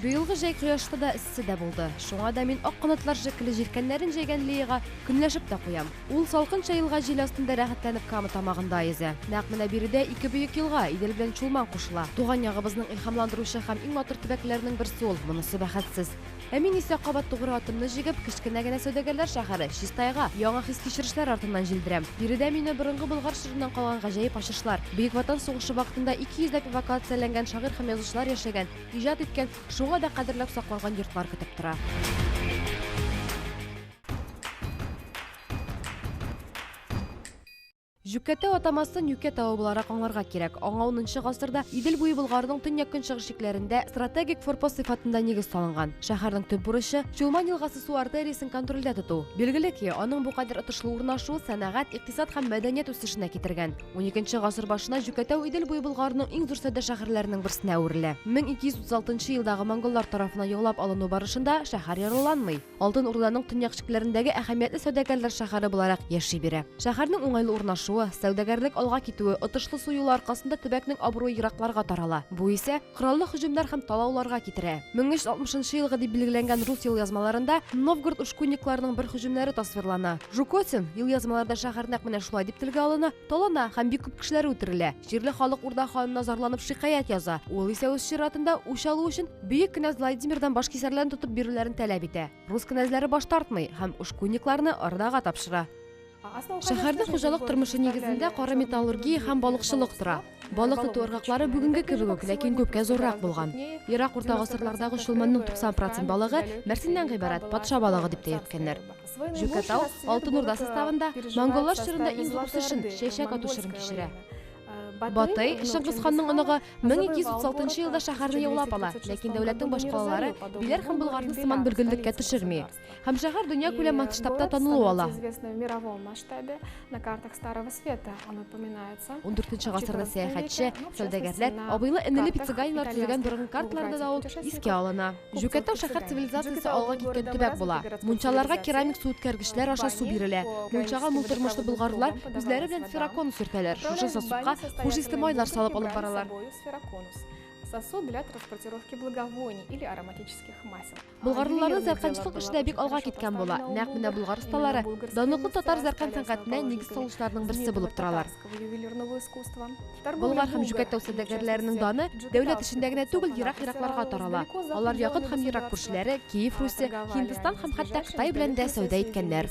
Быелгы җәй кояшлы да эссе дә булды. Шуңа да мин ак канатлар шикелле җилкәннәрен җәйгән Леяга көнләшеп тә куям. Ул салкынча елга җил астында рәхәтләнеп Кама тамагында йөзә. Нәкъ менә биредә ике бөек елга, Идел белән Чулман кушыла. Туган ягыбызның илһамландыручы һәм иң матур төбәкләренең берсе ул, монысы бәхәссез. Ә мин исә кабат тугры атымны җигеп, кечкенә генә сәүдәгәрләр шәһәре, Чистайга, яңа хис-кичерешләр артыннан җилдерәм. Биредә мине борынгы Болгар чорыннан калган гаҗәеп ачышлар, Бөек Ватан сугышы вакытында ике йөзләп эвакуацияләнгән шагыйрь һәм язучылар яшәгән, иҗат иткән, шуңа да кадерләп сакланган йортлар көтеп тора. Җүккәтау атамасын Юкә тавы буларак аңларга кирәк. Аңа 10 гасырда Идел буе Болгарның төньяк-көнчыгыш чикләрендә стратегик форпост сыйфатында нигез салынган. Шәһәрнең төп бурычы Чулман елгасы су артериясен контрольдә тоту. Билгеле ки, аның бу кадәр отышлы урнашуы сәнәгать, икътисад һәм мәдәният үсешенә китергән. 12 гасыр башына Җүкәтау Идел буе Болгарның иң зур сәүдә шәһәрләренең берсенә әверелә. 1236 елдагы монголлар тарафыннан яулап алыну барышында шәһәр ярлыланмый. Алтын Урданың төньяк чикләрендәге әһәмиятле сәүдәгәрләр шәһәре буларак яши бирә. Шәһәрнең уңайлы урнашуы, сәүдәгәрлек алга китүе, отышлы су юлы аркасында төбәкнең абруе еракларга тарала. Бу исә кораллы һөҗүмнәр һәм талауларга китерә. 1360 нчы елгы дип билгеләнгән рус елъязмаларында Новгород ушкуйникларының бер һөҗүмнәре тасвирлана. Жукосин, елъязмаларда шәһәр нәкъ менә шулай дип телгә алына, талана һәм бик күп кешеләр үтерелә. Җирле халык урда ханына зарланып шикаять яза. Ул исә үз чиратында үч алу өчен бөек кенәз Владимирдан баш кисәрләрен тотып бирүләрен таләп итә. Рус кенәзләре баш тартмый һәм ушкуйникларны Ордага тапшыра. Шәһәрдә хуҗалык тормышы нигезендә кара металлургия һәм балыкчылык тора. Балык тоту ыргаклары бүгенге кебек үк, ләкин күпкә зуррак булган. Ерак урта гасырлардагы Чулманның 90 процент балыгы Мәрсиннән гыйбарәт, патша балыгы дип тә йөрткәннәр. Җөкә тау, Алтын Урда составында монголлар чорында иң зур үсешен, чәчәк ату чорын кичерә. Батый, Чыңгыз ханның оныгы, 1236 елда шәһәрне яулап ала, ләкин дәүләтнең баш калалары Биләр һәм Болгарды сыман бөлгенлеккә төшерми. Һәм шәһәр дөньякүләм масштабта танылу ала. Ундүртенче гасырда сәяхәтче, сәүдәгәрләр, абыйлы-энеле пицегаилар төзегән борынгы карталарда да ул искә алына. Җүкәтау шәһәр цивилизациясе алга киткән төбәк була. Мунчаларга керамик су үткәргечләр аша су бирелә. Мунчага мул тормышлы болгарлар үзләре белән сферокон сөртәләр. Шушы сосудка хуш исле майлар салып алып баралар. Сосуд для транспортировки благовоний или ароматических масел. Болгарлыларның зәрканчылык эшенә бик алга киткән була. Нәкъ менә болгар осталары данлыклы татар зәркан сәнгатенә нигез салучыларның берсе булып торалар. в ювелирного искусства. Болгар һәм Җүкәттау сәүдәгәрләренең даны дәүләт эчендә генә түгел, ерак-еракларга тарала. Алар якын һәм ерак күршеләре, Киев Русе, Һиндстан һәм хәтта Кытай белән дә сәүдә иткәннәр.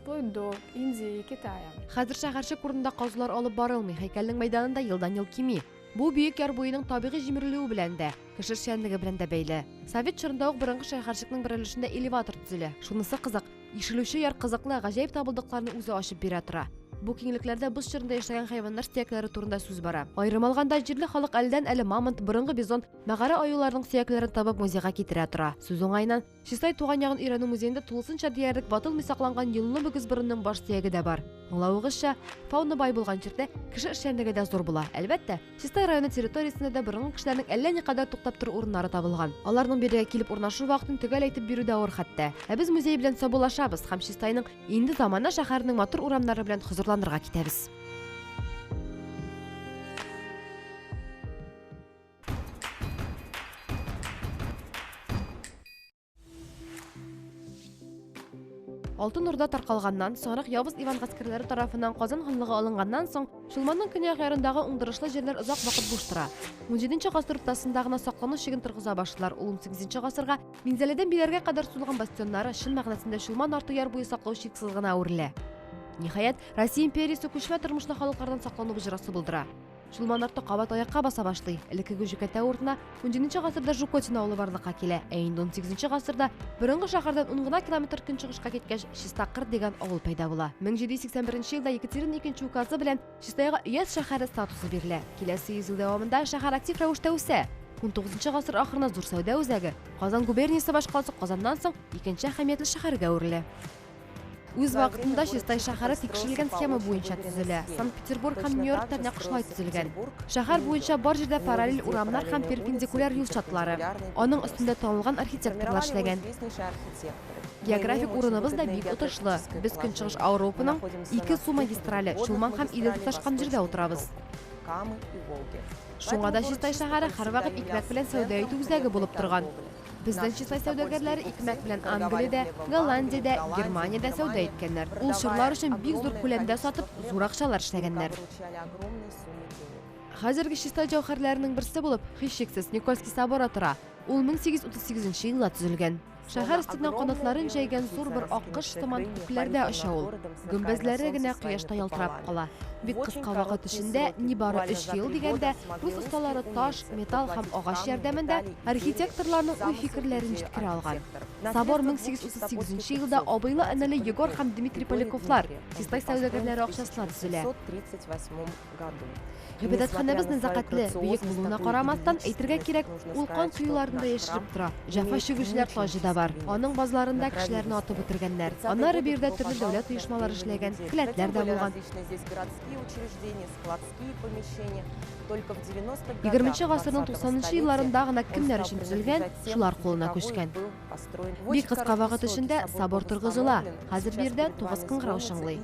вплоть до Индии и Китая. Хәзер шәһәрчек урынында казулар алып барылмый, һәйкәлнең мәйданы да елдан-ел кими. Бу Бөек Яр буеның табигый җимерелүе белән дә, кеше эшчәнлеге белән дә бәйле. Совет чорында ук борынгы шәһәрчекнең бер өлешендә элеватор төзелә. Шунысы кызык, Ишелүче яр кызыклы, гаҗәеп табылдыкларны үзе ачып бирә тора. Бу киңлекләрдә боз чорында яшәгән хайваннар сөякләре турында сүз бара. Аерым алганда, җирле халык әледән-әле мамонт, борынгы бизон, мәгарә аюларының сөякләрен табып музейга китерә тора. Сүз уңаеннан, Чистай туган ягын өйрәнү музеенда тулысынча диярлек ватылмый сакланган йонлы мөгезборынның баш сөяге дә бар. Аңлавыгызча, фауна бай булган җирдә кеше эшчәнлеге дә зур була, әлбәттә. Чистай районы территориясендә дә борынгы кешеләрнең әллә никадәр туктап тору урыннары табылган. Аларның биредә килеп урнашу вакытын төгәл әйтеп бирү дә авыр хәтта. Ә без музей белән саубуллашабыз һәм Чистайның инде замана шәһәренең матур урамнары белән хозурланырга китәбез. Алтын Урда таркалганнан, соңрак Явыз Иван гаскәрләре тарафыннан Казан ханлыгы алынганнан соң, Чулманның көньяк ярындагы уңдырышлы җирләр озак вакыт буш тора. 17 гасыр уртасында гына саклану чиген торгыза башлар. Ул 18 гасырга Минзәләдән Биләргә кадәр сузылган бастионнары чын мәгънәсендә Чулман арты яр буе саклау чиксызлыгына әверелә. Ниһаять, Россия империясе күчмә тормышны халыклардан саклану боҗрасы булдыра. Чулман арты кабат аякка баса башлый. Элекке Гөҗекәтә уртына 17 гасырда Жукотин авылы барлыкка килә, ә инде 18 гасырда борынгы шәһәрдән 10 гына километр көнчыгышка киткәч Чистакыр дигән авыл пәйда була. 1781 елда Екатерина II указы белән Чистаяга өяз шәһәре статусы бирелә. Киләсе 100 ел дәвамында шәһәр актив рәвештә үсә. 19 гасыр ахырына зур сәүдә үзәге, Казан губерниясе башкаласы Казаннан соң икенче әһәмиятле шәһәргә әверелә. Үз вакытында Чистай шәһәре тикшерелгән схема буенча төзелә. Санкт-Петербург һәм Нью-Йорктан нәкышлай төзелгән. Шәһәр буенча бар җирдә параллель урамнар һәм перпендикуляр юл чатлары. Аның өстендә танылган архитекторлар эшләгән. Географик урыныбыз да бик отышлы. Без Көнчыгыш Ауропаның ике су магистрале, Чулман һәм Идел тоташкан җирдә утырабыз. Шуңа да Чистай шәһәре һәрвакыт икмәк белән сәүдә итү үзәге булып торган. Безнең Чистай сәүдәгәрләре икмәк белән Англиядә, Голландиядә, Германиядә сәүдә иткәннәр. Ул чорлар өчен бик зур күләмдә сатып, зур акчалар эшләгәннәр. Хәзерге Чистай җәүһәрләренең берсе булып, һичшиксез, Никольский соборы тора. Ул 1838 елда төзелгән. Шәһәр өстеннән канатларын җәйгән зур бер аккош сыман күкләрдә оча ул. Гөмбәзләре генә кояшта ялтырап кала. Бик кыска вакыт эчендә, нибары өч ел дигәндә, рус осталары таш, металл һәм агач ярдәмендә архитекторларның уй фикерләрен җиткерә алган. Собор 1838 елда абыйлы әнәле Егор һәм Дмитрий Поляковлар, Чистай сәүдәгәрләре акчасына төзелә. Гыйбадәтханәбез нәзакәтле, бөек булуына карамастан, әйтергә кирәк, ул кан коеларында яшереп тора. Җәфа чигүчеләр таҗы да бар. Аның базларында кешеләрне атып үтергәннәр. Аннары биредә төрле дәүләт оешмалары эшләгән, келәтләр дә булган. Егерменче гасырның 90 елларында гына кемнәр өчен төзелгән, шулар кулына күчкән. Бик кыска вакыт эчендә собор торгызыла. Хәзер бу ердә тугыз кыңгырау чыңлый.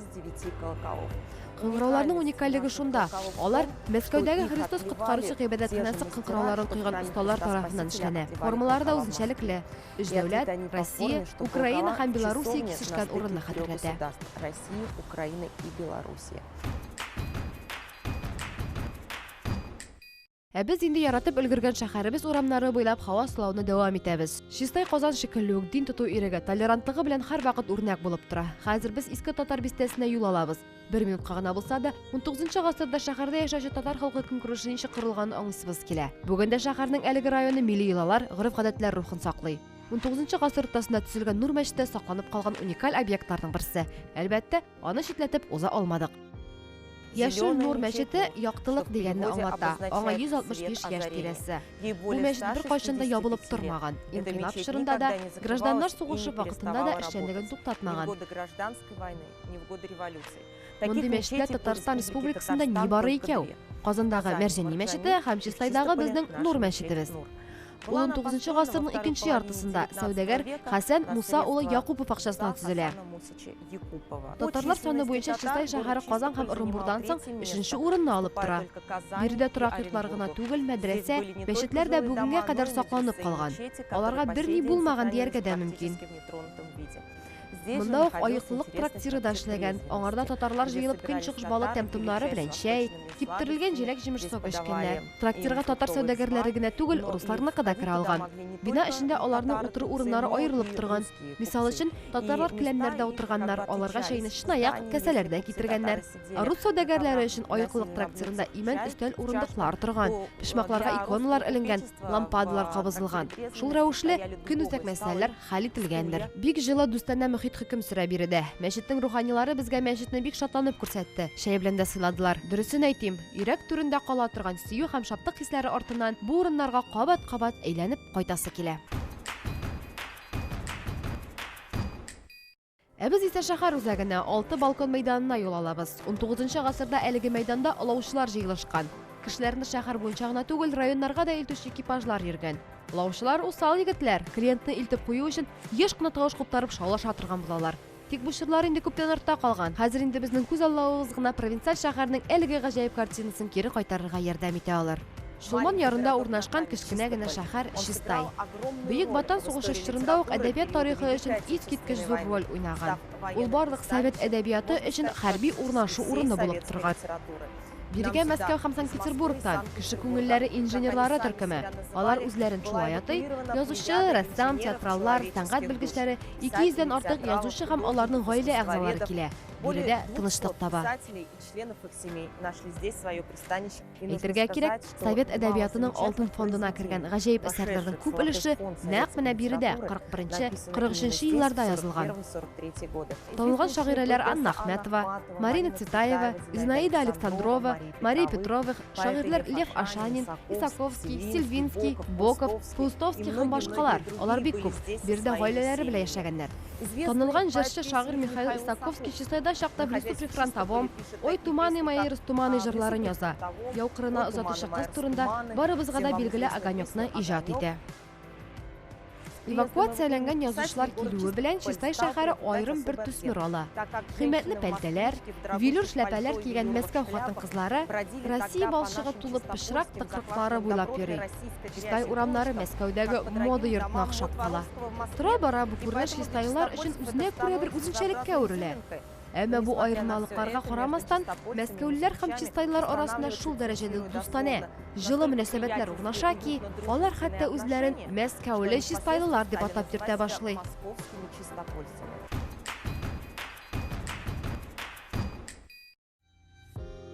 Кыңгырауларның уникальлеге шунда, алар Мәскәүдәге Христос коткаручы гыйбадәтханәсе кыңгырауларын койган осталар тарафыннан эшләнә. Формалары да үзенчәлекле. Өч дәүләт, Россия, Украина һәм Белоруссия кисешкән урынны хәтерләтә. Россия, Украина и Белоруссия. Ә без инде яратып өлгергән шәһәребез урамнары буйлап һава сылауны дәвам итәбез. Чистай Казан шикелле үк дин тоту иреге, толерантлыгы белән һәрвакыт үрнәк булып тора. Хәзер без Иске Татар бистәсенә юл алабыз. Бер минутка гына булса да, 19 гасырда шәһәрдә яшәүче татар халкы көнкүреше ничек корылганын аңлыйсыбыз килә. Бүген дә шәһәрнең әлеге районы милли йолалар, гореф-гадәтләр рухын саклый. 19 гасыр уртасында төзелгән Нур мәчете сакланып калган уникаль объектларның берсе. Әлбәттә, аны читләтеп уза алмадык. Яшел Нур мәчете яктылык дигәнне аңлата. Аңа 165 яшь тирәсе. Бу мәчет беркайчан да ябылып тормаган. Инкыйлаб чорында да, гражданнар сугышы вакытында да эшчәнлеген туктатмаган. Мондый мәчетләр Татарстан Республикасында нибары икәү, Казандагы Мәрҗани мәчете һәм Чистайдагы безнең Нур мәчетебез. XIX гасырның икенче яртысында сәүдәгәр Хәсән Муса улы Якупов акчасына төзелә. Татарлар саны буенча Чистай шәһәре Казан һәм Ырынбурдан соң өченче урынны алып тора. Биредә торак йортлар гына түгел, мәдрәсә, мәчетләр дә бүгенгә кадәр сакланып калган. Аларга берни булмаган дияргә дә мөмкин. Монда ук Аеклылык трактиры да эшләгән. Аңарда татарлар җыелып көнчыгыш балы тәм-томнары белән чәй, киптерелгән җиләк-җимеш соку эчкәннәр. Трактирга татар сәүдәгәрләре генә түгел, русларныкы да керә алган. Бина эчендә аларның утыру урыннары аерылып торган. Мисал өчен, татарлар келәмнәрдә утырганнар, аларга чәйне чынаяк касәләрдә китергәннәр. Ә рус сәүдәгәрләре өчен Аеклылык трактирында имән өстәл урындыклар торган, почмакларга иконалар эленгән, лампадалар кабызылган. Шул рәвешле, көн үтәк мәсьәләләр Хәл ителгәндер. Бик җылы дустанә мөхит хөкем сөрә биредә. Мәчетнең руханилары безгә мәчетне бик шатланып күрсәтте. Чәй белән дә сыйладылар. Дөресен әйтим, йөрәк түрендә кала торган сөю һәм шатлык хисләре артыннан бу урыннарга кабат-кабат әйләнеп кайтасы килә. Ә без исә шәһәр үзәгенә, Алты балкон мәйданына юл алабыз. Унтугызынчы гасырда әлеге мәйданда олаучылар җыелышкан. Кешеләрне шәһәр буенча гына түгел, районнарга да илтүче экипажлар йөргән. Олаучылар, усал егетләр, клиентны илтеп кую өчен еш кына тавыш куптарып шаулаша торган булалар. Тик бу чорлар инде күптән артта калган. Хәзер инде безнең күз аллавыбыз гына провинциаль шәһәрнең әлеге гаҗәеп картинасын кире кайтарырга ярдәм итә алыр. Сулман ярында урнашкан кечкенә генә шәһәр Чистай. Бөек Ватан сугышы чорында ук әдәбият тарихы өчен искиткеч зур роль уйнаган. Ул барлык совет әдәбияты өчен хәрби урнашу урыны булып торган. Бирегә Мәскәү һәм Санкт-Петербургтан кеше күңелләре инженерлары төркеме. Алар үзләрен шулай атый, язучы, рәссам, театраллар, сәнгать белгечләре, 200 дән артык язучы һәм аларның гаилә әгъзалары килә, биредә тынычлык таба. Әйтергә кирәк, совет әдәбиятының алтын фондына кергән гаҗәеп әсәрләрнең күп өлеше нәкъ менә биредә 41-43 елларда язылган. Танылган шагыйрәләр Анна Ахмәтова, Марина Цветаева, Зинаида Александрова, Мария Петровых, шагыйрьләр Лев Ашанин, Исаковский, Сильвинский, Боков, Пустовский һәм башкалар. Алар бик күп. Биредә гаиләләре белән яшәгәннәр. Танылган җырчы шагыйрь Михаил Исаковский Чистайда чакта Близко прифронтовом, Ой, туманы мои, растуманы җырларын яза. Яу кырына озатучы кыз турында барыбызга да билгеле огонекны иҗат итә. Эвакуацияләнгән язучылар килүе белән Чистай шәһәре аерым бер төсмер ала. Кыйммәтле пәлтәләр, велюр шләпәләр кигән Мәскәү хатын-кызлары Россия балчыгы тулып пычрак тыкрыклары буйлап йөри. Чистай урамнары Мәскәүдәге мода йортына охшап кала. Тора-бара бу күренеш чистайлылар өчен үзенә күрә бер үзенчәлеккә әверелә. Әмма бу аермалыкларга карамастан, мәскәүлеләр һәм чистайлылар арасында шул дәрәҗәдә дустанә, җылы мөнәсәбәтләр урнаша ки, алар хәтта үзләрен мәскәүле чистайлылар дип атап йөртә башлый.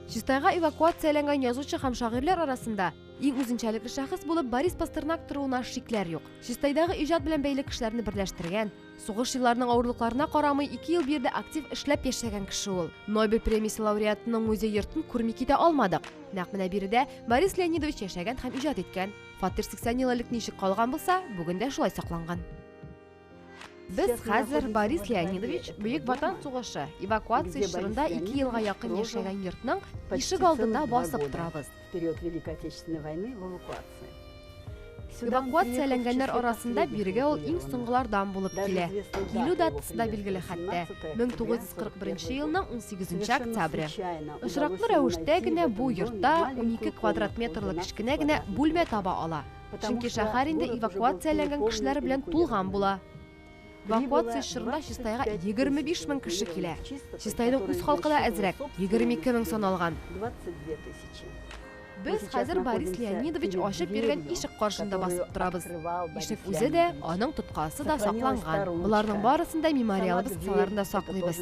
Чистайга эвакуацияләнгән язучы һәм шагыйрьләр арасында иң үзенчәлекле шәхес булып Борис Пастернак торуына шикләр юк. Чистайдагы иҗат белән бәйле кешеләрне берләштергән, сугыш елларының авырлыкларына карамый, ике ел биредә актив эшләп яшәгән кеше ул. Нобель премиясе лауреатының музей-йортын күрми китә алмадык. Нәкъ менә биредә Борис Леонидович яшәгән һәм иҗат иткән. Фатир 80 ел элек ничек калган булса, бүген дә шулай сакланган. Без хәзер Борис Леонидович Бөек Ватан сугышы эвакуация чорында 2 елга якын яшәгән йортның ишек алдында басып торабыз. Период Великой Отечественной войны в эвакуации. Эвакуацияләнгәннәр арасында бирегә ул иң соңгылардан булып килә. Килү датасы да билгеле хәтта 1941 елның 18 октябре. Очраклы рәвештә генә бу йортта 12 квадрат метрлы кечкенә генә бүлмә таба ала. Чөнки шәһәр инде эвакуацияләнгән кешеләр белән тулган була. Эвакуация чорында Чистайга 25 мең кеше килә. Чистайның үз халкы да әзрәк, 22 мең саналган. Без хәзер Борис Леонидович ачып йөргән ишек каршында басып торабыз. Ишек үзе дә, аның тоткасы да сакланган. Боларның барысын да мемориалыбыз кысаларында саклыйбыз.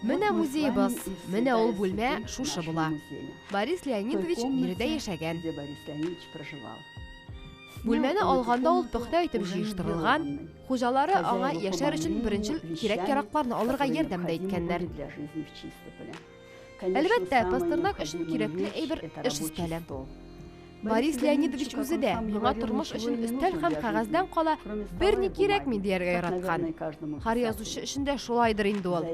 Менә музеебыз, менә ул бүлмә шушы була. Борис Леонидович биредә яшәгән. Бүлмәне алганда ул пөхтә итеп җыештырылган, хуҗалары аңа яшәр өчен беренчел кирәк-яракларны алырга ярдәм дә иткәннәр. Әлбәттә, Пастернак өчен кирәкле әйбер эш өстәле. Борис Леонидович үзе дә миңа тормыш өчен өстәл һәм кәгазьдән кала берни кирәкми дияргә яраткан. Һәр язучы өчен дә шулайдыр инде ул.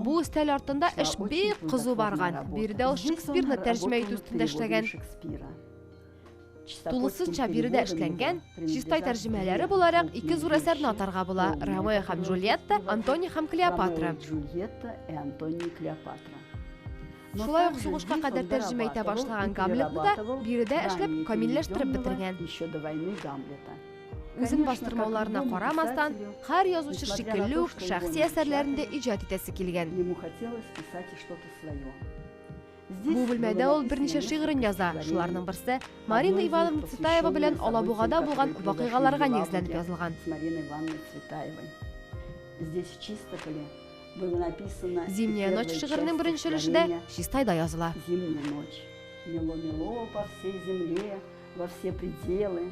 Бу өстәл артында эш бик кызу барган. Биредә ул Шекспирны тәрҗемә итү өстендә эшләгән. тулысынча биредә эшләнгән, чистай тәрҗемәләре буларак ике зур әсәрне атарга була, Ромео һәм Джульетта, Антоний һәм Клеопатра. Шулай ук сугышка кадәр тәрҗемә итә башлаган Гамлетны да биредә эшләп камилләштереп бетергән. Үзен бастырмауларына карамастан, һәр язучы шикелле үк шәхси әсәрләрен дә иҗат итәсе килгән. Бу бүлмәдә ул берничә шигырен яза, шуларның берсе Марина Ивановна Цветаева белән Алабугада булган вакыйгаларга нигезләнеп язылган. Зимняя ночь шигыренең беренче өлеше дә Чистайда языла. Зимняя ночь. Мело-мело по всей земле, во все пределы.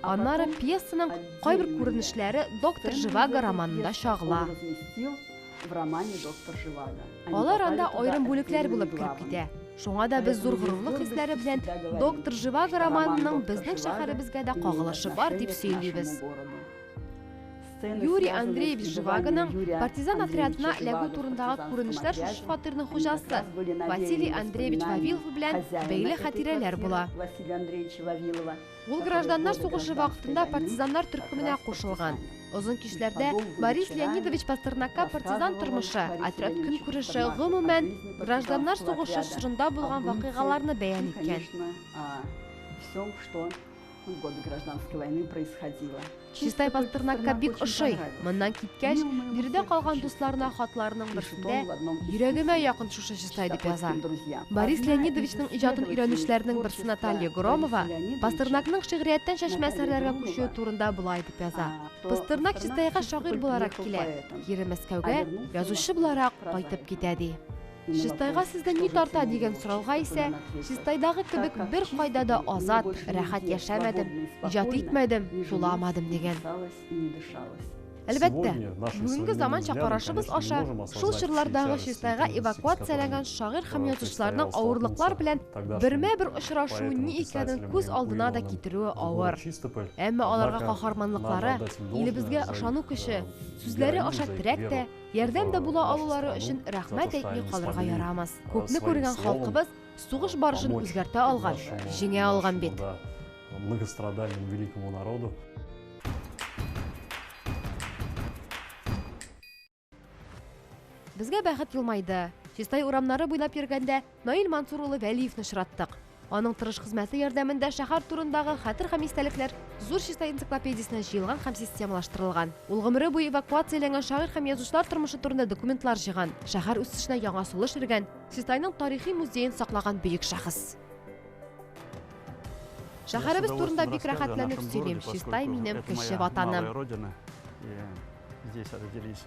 Аннары пьесаның кайбер күренешләре Доктор Живаго романында чагыла. Алар анда аерым бүлекләр булып кереп китә. Шуңа да без зур горурлык хисләре белән Доктор Живаго романының безнең шәһәребезгә дә кагылышы бар дип сөйлибез. Юрий Андреевич Живаганың партизан отрядына эләгү турындагы күренешләр шушы фатирның хуҗасы Василий Андреевич Вавилов белән бәйле хатирәләр була. Ул гражданнар сугышы вакытында партизаннар төркеменә кушылган. Озын кичләрдә Борис Леонидович Пастернакка партизан тормышы, отряд көн күреше, гомумән, гражданнар сугышы чорында булган вакыйгаларны бәян иткән. Чистай Пастернакка бик ошый. Моннан киткәч, биредә калган дусларына хатларының берсендә Йөрәгемә якын шушы Чистай дип яза. Борис Леонидовичның иҗатын өйрәнүчеләрнең берсе Наталья Громова Пастернакның шигърияттән чәчмә әсәрләргә күчүе турында болай дип яза. Пастернак Чистайга шагыйрь буларак килә, кире Мәскәүгә язучы буларак кайтып китә, ди. Чистайга сезне ни тарта дигән сорауга исә, Чистайдагы кебек бер кайда да азат, рәхәт яшәмәдем, иҗат итмәдем, туламадым дигән. Әлбәттә, бүгенге заманча карашыбыз аша шул чорлардагы Чистайга эвакуацияләнгән шагыйрь һәм язучыларның авырлыклар белән бермә-бер очрашуы ни икәнен күз алдына да китерүе авыр. Әмма аларга каһарманлыклары, илебезгә ышану көче, сүзләре аша терәк тә, Ярдәм дә була алулары өчен рәхмәт әйтми калырга ярамас. Күпне күргән халкыбыз сугыш барышын үзгәртә алган, җиңә алган бит. Многострадальному великому народу. Безгә бәхет елмайды. Чистай урамнары буйлап йөргәндә, Наил Мансур улы Вәлиевны очраттык. Аның тырыш хезмәте ярдәмендә шәһәр турындагы хәтер һәм истәлекләр зур чиста энциклопедиясенә җыелган һәм системалаштырылган. Ул гомере буе эвакуацияләнгән шагыйрь һәм язучылар тормышы турында документлар җыйган, шәһәр үсешенә яңа сулыш өргән, Чистайның тарихи музеен саклаган бөек шәхес. Шәһәребез турында бик рәхәтләнеп сөйлим, Чистай минем кече ватаным. Здесь родились.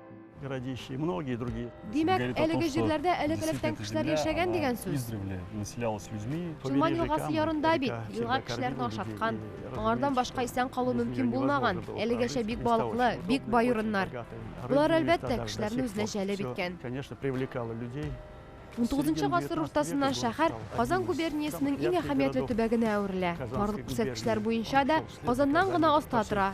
городище и многие другие. Димәк, әлеге җирләрдә элек-электән кешеләр яшәгән дигән сүз. Издревле населялась людьми. Чулман елгасы ярында бит, елга кешеләрне ашаткан. Аңардан башка исән калу мөмкин булмаган. Әлегәчә бик балыклы, бик бай урыннар. Болар, әлбәттә, кешеләрне үзенә җәлеп иткән. Конечно, привлекало людей. 19 гасыр уртасыннан шәһәр Казан губерниясенең иң әһәмиятле төбәгенә әверелә. Барлык күрсәткечләр буенча да Казаннан гына аста тора.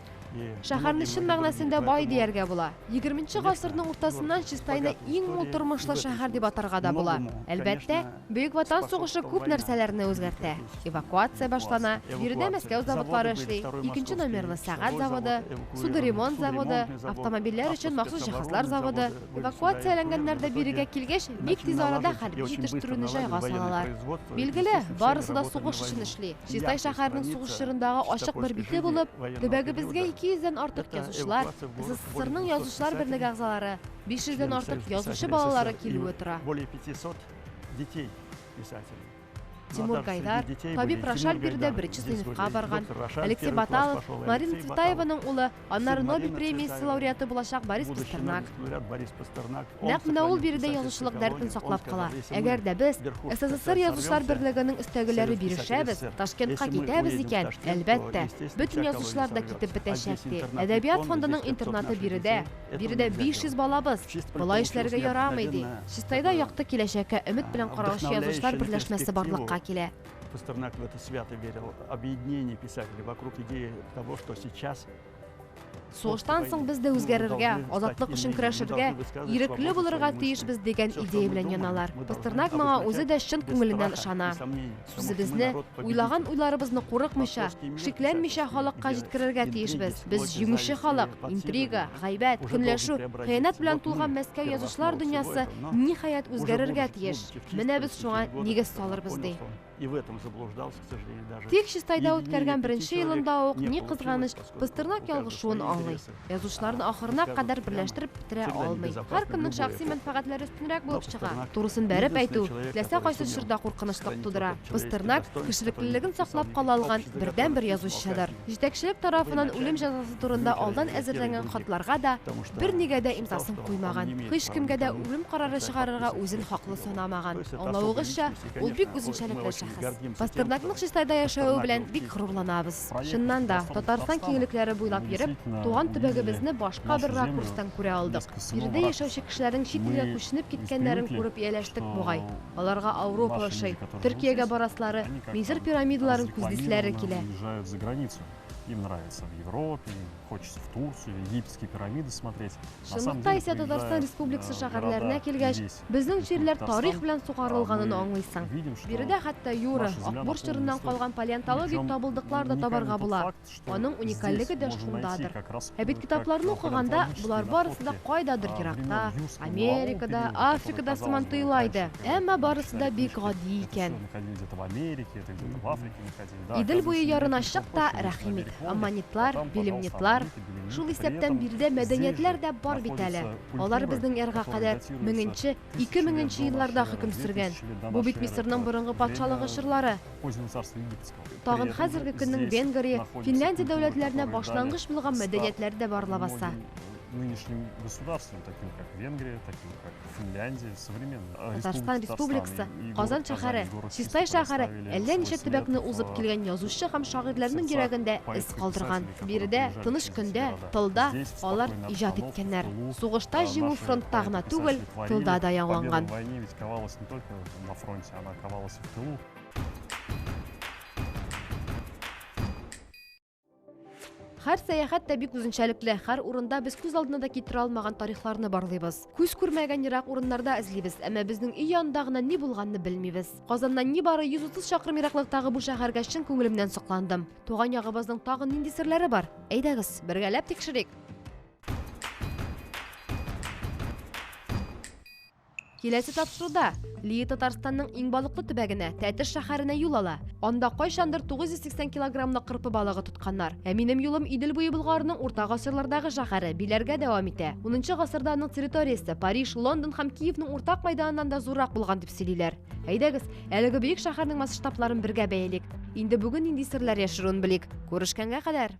Шәһәрне чын мәгънәсендә бай дияргә була. 20 нче гасырның уртасыннан Чистайны иң мул тормышлы шәһәр дип атарга да була. Әлбәттә, Бөек Ватан сугышы күп нәрсәләрне үзгәртә. Эвакуация башлана, биредә Мәскәү заводлары эшли, икенче номерлы сәгать заводы, судоремонт заводы, автомобильләр өчен махсус җиһазлар заводы, Эвакуацияләнгәннәр дә бирегә килгәч, бик тиз арада хәрби җитештерүне җайга салалар. Билгеле, барысы да сугыш өчен эшли. Чистай шәһәренең сугыш чорындагы ачык бер бите булып, төбәгебезгә 200 дән артык язучылар, СССРның Язучылар берлеге әгъзалары, 500 дән артык язучы балалары килүе тора. Тимур Гайдар, табиб Рашаль Бирдә беренче сыйныфка барган, Алексей Баталов, Марина Цветаеваның улы, аннары Нобель премиясе лауреаты булачак Борис Пастернак. Нәкъ менә ул биредә язучылык дәртен саклап кала. Әгәр дә без СССР Язучылар берлегенең өстәгеләре бирешәбез, Ташкентка китәбез икән, әлбәттә, бөтен язучылар да китеп бетәчәк, ди. Әдәбият фондының интернаты биредә. Биредә 500 балабыз. Болай эшләргә ярамый, ди. Чистайда якты киләчәккә өмет белән караучы язучылар берләшмәсе барлыкка килә. Пастернак в это свято верил. Объединение писателей вокруг идеи того, что сейчас Сугыштан соң без дә үзгәрергә, азатлык өчен көрәшергә, ирекле булырга тиешбез дигән идея белән яналар. Пастернак моңа үзе дә чын күңеленнән ышана. Сүзебезне, уйлаган уйларыбызны курыкмыйча, шикләнмичә халыкка җиткерергә тиешбез. Без җиңүче халык. Интрига, гайбәт, көнләшү, хыянәт белән тулган Мәскәү язучылар дөньясы ниһаять үзгәрергә тиеш. Менә без шуңа нигез салырбыз, ди. Тик Чистайда үткәргән беренче елында ук, ни кызганыч, Пастернак ялгышуын аңлый. Язучыларны ахырына кадәр берләштереп бетерә алмый. Һәркемнең шәхси мәнфәгатьләре өстенрәк булып чыга. Турысын бәреп әйтү, теләсә кайсы чорда куркынычлык тудыра. Пастернак кешелеклелеген саклап кала алган бердәнбер язучыдыр. Җитәкчелек тарафыннан үлем җәзасы турында алдан әзерләнгән хатларга да бернигә дә имзасын куймаган, һичкемгә дә үлем карары чыгарырга үзен хаклы санамаган. Аңлавыгызча, ул бик үзенчәлекле шәхес. Пастернакның Чистайда яшәве белән бик горурланабыз. Чыннан да, Татарстан киңлекләре буйлап йөреп, туган төбәгебезне башка бер ракурстан күрә алдык. Биредә яшәүче кешеләрнең чит илгә күченеп киткәннәрен күреп ияләштек бугай. Аларга Ауропа ошый, Төркиягә барасылары, Мисыр пирамидаларын күзлиселәре килә. Чынлыкта исә Татарстан Республикасы шәһәрләренә килгәч, безнең җирләр тарих белән сугарылганын аңлыйсың. Биредә хәтта Юра, Акбур чорыннан калган палеонтологик табылдыклар да табарга була. Аның уникальлеге дә шундадыр. Ә бит китапларны укыганда, болар барысы да кайдадыр еракта, Америкада, Африкада сыман тоела иде. Әмма барысы да бик гади икән. Идел буе ярына чык та, Рәхимит, Аммонитлар, Билемнитлар, Шул исәптән биредә мәдәниятләр дә бар бит әле. Алар безнең эрга кадәр меңенче, ике меңенче елларда хөкем сөргән. Бу бит Мисырның борынгы патшалыгы чорлары. Тагын хәзерге көннең Венгрия, Финляндия дәүләтләренә башлангыч булган мәдәниятләр дә бар лабаса. Финляндия, современная. Э, Татарстан Республикасы, Казан шәһәре, Чистай шәһәре әллә ничә төбәкне узып килгән язучы һәм шагыйрләрнең йөрәгендә эз калдырган. Биредә, тыныч көндә, тылда алар иҗат иткәннәр. Сугышта җиңү фронтта гына түгел, тылда да яңланган. Хәр сәяхәт тә бик үзенчәлекле. Хәр урында без күз алдына да китерә алмаган тарихларны барлыйбыз. Күз күрмәгән ерак урыннарда эзлибез, әмма безнең өй янында гына ни булганны белмибез. Казаннан нибары 130 чакрым ераклыктагы бу шәһәргә чын күңелемнән сокландым. Туган ягыбызның тагын нинди серләре бар? Әйдәгез, бергәләп тикшерик. Киләсе тапшыруда Лия Татарстанның иң балыклы төбәгенә, Тәтеш шәһәренә юл ала. Анда кайчандыр 980 килограммлы кырпы балыгы тотканнар. Ә минем юлым Идел буе Болгарының урта гасырлардагы шәһәре Биләргә дәвам итә. Унынчы гасырда аның территориясе Париж, Лондон һәм Киевның уртак мәйданыннан да зуррак булган дип сөйлиләр. Әйдәгез, әлеге бөек шәһәрнең масштабларын бергә бәялик. Инде бүген нинди серләр яшерүен белик. Күрешкәнгә кадәр!